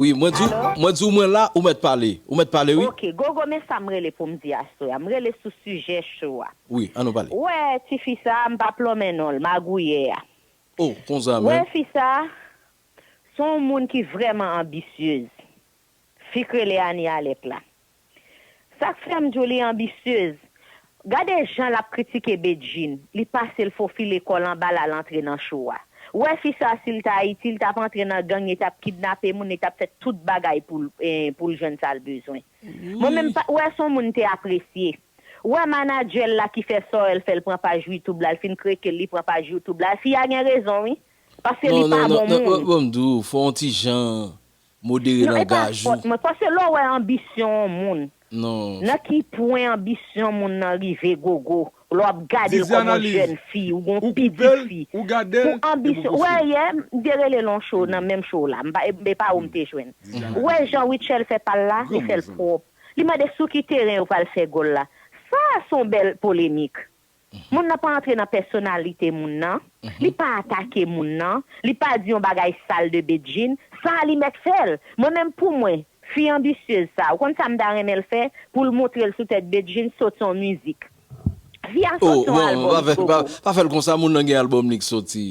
Wi mwen di w mwen di w mwen la ou mèt pale ou mèt pale wi. Ok gogo men sa m rele pou m di aswè a m rele sou sijè cho a. Wi an nou pale. Ou wè ti fi sa m pa plonmen non l magouyè a. Oh konsa menm. Ou wè fi sa s on moun ki vrèman anbisyez fi k rele Anie Alec la. Sak fèm diw li ambitieuse. Gade jan lap kritike Bedjine, li pasel fofile kòl anba lal antre nan show a. Ou wè fi sa sil t Ayiti li tap antre nan gang li tap kidnape moun li tap fè tout bagay poul poul jwenn sal bezwen. Mwen menm pat wè son moun te apresye. Ou wè managerl la ki fè Saurel fèl pran paj YouTube la li fin krekel li pran paj YouTube la fi a gen rezon wi paske li pa bon moun. Non non non banm diw fon ti jan Modere Non, epa langaj ou. fòt mwen. Pase lè w wè anbisyon on moun, Non. nan ki pwen anbisyon moun nan rive gogo, lè w ap gade l kòm on Didianalyz, jèn fi, ou gen on Ou koupe pitit l, fi, ou gade l, pou epi w anbisyon, ou wè pouswiv. yè, m te rele l on cho nan menm cho w la, m pa, e e pa ou m te jwenn. Ou wè jan Rutshelle fè pa l la, li fè l pwòp. Li mande sou ki teren yo pral fè gòl la. Sa a s on bèl polemik. Moun nan pa antre nan pèsonalite moun nan, li pa atake moun nan, li pa di yon bagay sal de Bedjine, sa a li mèt fè l. Mwen menm pou mwen, fi anbisyez sa a, ou konn sa m ta renmen l fè? Pou l montre l sou tèt Bedjine, sot yon mizik. Fi a sot yon albòm, Gogo. Oh, pa fè l konsa, moun nan gen albòm li k soti.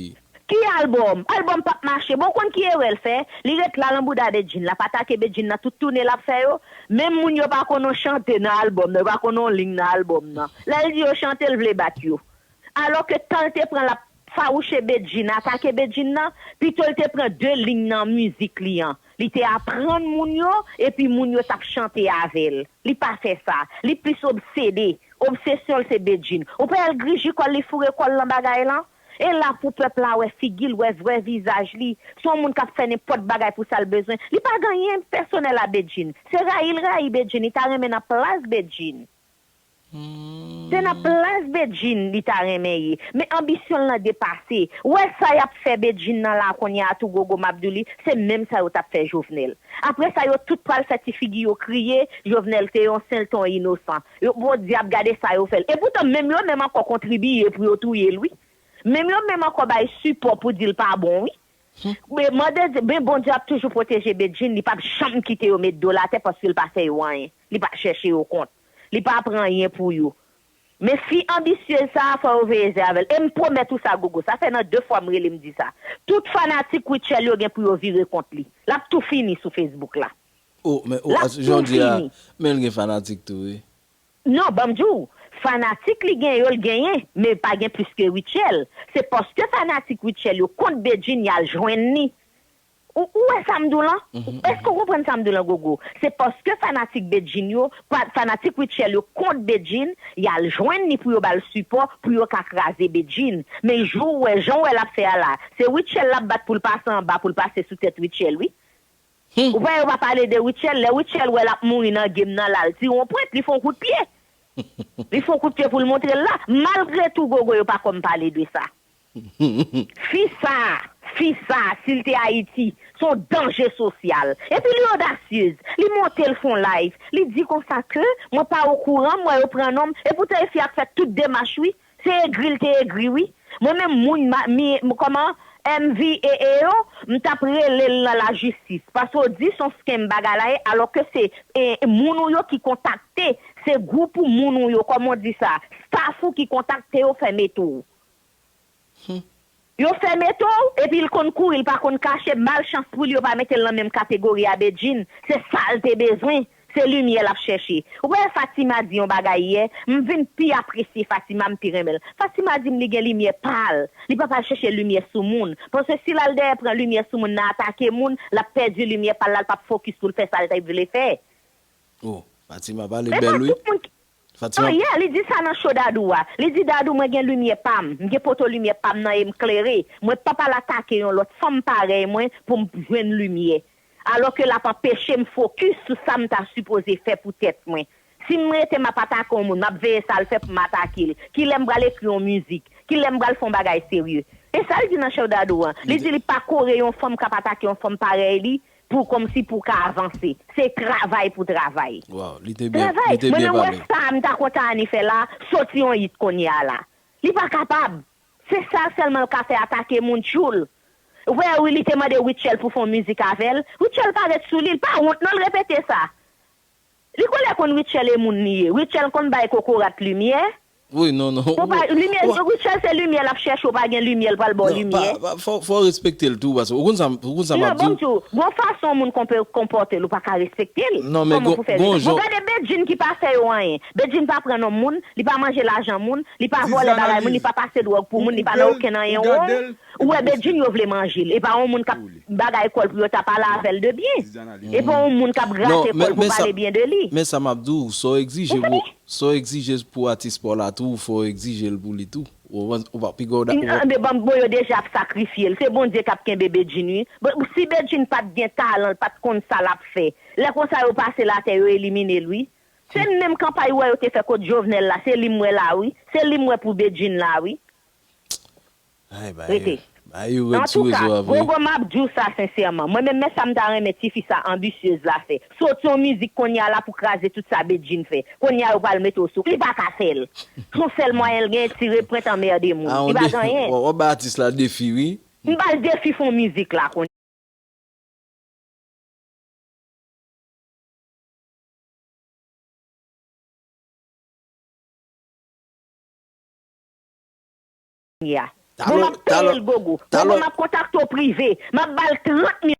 Ki album? Album pap mache bon ou konn ki erè l fè li ret la lan bouda Bedjine lap atake Bedjine nan tout toune lap fè yo menm moun yo pa konn on chante nan album nan yo pa konn on ling nan album nan lè l di yo chante l vle bat yo alò ke tan l te pran lap fawouche Bedjine atake Bedjine nan pito l te pran 2 ling nan mizik li an li te aprann moun yo epi moun yo tap chante avè l li pa fè sa li plis obsede obsesyon l se Bedjine ou pa wè l griji kò l li foure kò l lan bagay lan E la pou pèp la wè figi l, wè vrè vizaj li. Se yon moun k ap fè nenpòt bagay pou sa l bezwen. Li pa gen anyen pèsonèl a Bedjine. Se rayi l rayi Bedjine, li ta renmen nan plas Bedjine. Se nan plas Bedjine li ta renmen ye. Men anbisyon l lan depase. Ou wè sa y ap fè Bedjine nan la a kounye a tou Gogo m ap di w li, se menm sa yo t ap fè Jovenel. Apre sa yo tout pral fè ti figi yo kriye, Jovenel se yon sen l te yon inosan. Yo bon diab gade sa yo fèl. Epoutan menm yo menm ankò kontribiye pou yo touyel wi. Menm yo menm ankò bay sipò pou dil pa bon wi. Men mande Dye men Bondye ap toujou pwoteje Bedjine li pap janm kite yo met dol atè paskel pa fè yo anyen. Li pa chèche yo kont. Li pa pran anyen pou yo. Men fi anbisyez sa fò yo veye zè avèl. Em pwomèt ou sa Gogo. Sa fè nan 2 fwa m rele m di sa. Tout fanatik Rutshelle yo gen pou yo vire kont li. Lap tou fini sou Facebook la. Oh men oh Lap tou Jodi a fini. men l gen fanatik tou wi. Non banm di w, fanatik li gen yo l genyen men yo pa gen plis ke Rutshelle, se paske fanatik Rutshelle yo kont Bedjine y al jwenn li. Ou ou wè sa m di w lan? Èske ou konprann sa m di w lan Gogo? Se paske fanatik Bedjine yo, pa fanatik Rutshelle yo kont Bedjine, y al jwenn li pou yo ba l sipò pou yo ka kraze Bedjine. Men jou w wè jan w wè l ap fè a la, se Rutshelle l ap bat pou l pase anba pou l pase sou tèt Rutshelle wi. Hum. Ou kwè yo pa pale de Rutshelle lè Rutshelle wè lap mouri nan game nan lal ti ron pwent li fon kout pye li fon kout pye poul montrel la malgre tou gogo yo pa kòm pale de sa fi sa fi sa sil te ayiti son danje sosyal epi li odasyez li montel fon live li di konsa ke mwen pa okouran m wè yo pran nonm epoutan e fi a k fè tout demach wi Se egri l te egri wi. Mwen menm moun mi kòman MVEE yo m tap rele l nan la jistis paske w di son scam bagay la ye alò ke se moun ou yo ki kontakte se gwoup ou moun ou yo kòman w di sa staff ou ki kontakte yo fè mete w. Humm Yo fè metow epi l konn kouri l pa konn kache mal chans poul yo pa metel nan menm kategori a Bedjine se sal te bezwen se limyè lap chèche ou pa wè Fatima di yon bagay yè m vin pi apresye Fatima m pi renmen l Fatima di m li gen limyè pal li pap al chèche limyè sou moun paske si lal dèyè pran limyè sou moun nan atake moun lap pèdi limyè pal la l pap fokis poul fè sal t vle fè Oh Fatima pale men bèl pa wi. tout moun ki. Fatima An yè, li di sa nan show Dadou a. Li di Dadou mwen gen limyè pa m, m gen poto limyè pa m nan e m klere. Mwen p ap al atake yon lòt fanm parèy mwen pou m jwenn limyè. Alò ke l ap anpeche m fokis sou sa m ta sipoze fè pou tèt mwen. Si m rete m ap atake yon moun, m ap veye sa l fè pou m atake l. Ki lè m pral ekri yon mizik? Ki lè m pral fè yon bagay serye? Se sa l di nan show Dadou an. Li di li pa kore yon fanm k ap atake yon fanm parèy li Pou kòmsi pou ka avanse. Se travay pou travay. Waw li te byen li te byen pale. Travay! Mwen menm wè sa m ta kontan Annie fè la, soti yon hit kounye a la. Li pa kapab. Se sal sèlman l ka fè atake moun tchoul. Wè wi li te mande Rutshelle pou fon mizik avè l. Rutshelle pa ret sou li, l pa wont non l repete sa. Li kole kon Rutshelle e moun li ye. Rutshelle konn bay kokorat limyè. Wi non non ou pa limyè Rutshelle se limyè lap chèche ou pa gen limyè l pral baw Non pa limyè. pa fò fò respekte l tou paske ou konn sa m ou konn sa Non map banm diw. diw gon fason moun konpe konpòte l ou paka respekte l Non men kòman gon pou fè gon respè bon jan gade Bedjine ki pa fè yo anyen Bedjine pa pran non moun li pa manje lajan moun li pa vòlè Viviane bagay moun li Alice pa pase dwòg pou ou moun li ou pa nan gel okenn ou anyen wrong gadel Ou wè Bedjine yo vle manje l. E pa yon moun k ap bagay kò l pou yo ta pale avè l de byen. E pa yon moun k ap grate kò l pou pale byen de li. Men sa m ap di w, sa w egzije pou atis pa w la tou, fò w egzije l pou li tou. Anben banm bon yo deja ap sakrifye l. Se Bondye k ap kenbe Bedjine wi. Si Bedjine pa t gen talan, l pa t konn sa l ap fè. Lè konsa yo pase l atè, yo elimine l wi. Se menm kanpay ou wè yo te fè kont Jovenel la, se li m wè la wi. Se li m wè pou Bedjine la wi. Rete. Antouka, Gogo m ap di w sa sensèman, mwen menm men sa m ta renmen ti fi sa anbisyez la fè. Soti yon mizik kounye a la pou kraze tout sa Bedjine fè. Kounye a yo pral mete w sou. Li pa ka fè l. S on sèl mwayen l genyen tire pwent anmerde moun. Li pa gen anyen. Wap bay atis la defi wi. M ba l defi fon mizik la kounye a. ya. Bon map peyel gogo. Bon map kontakte w prive. Map bal 30 mil.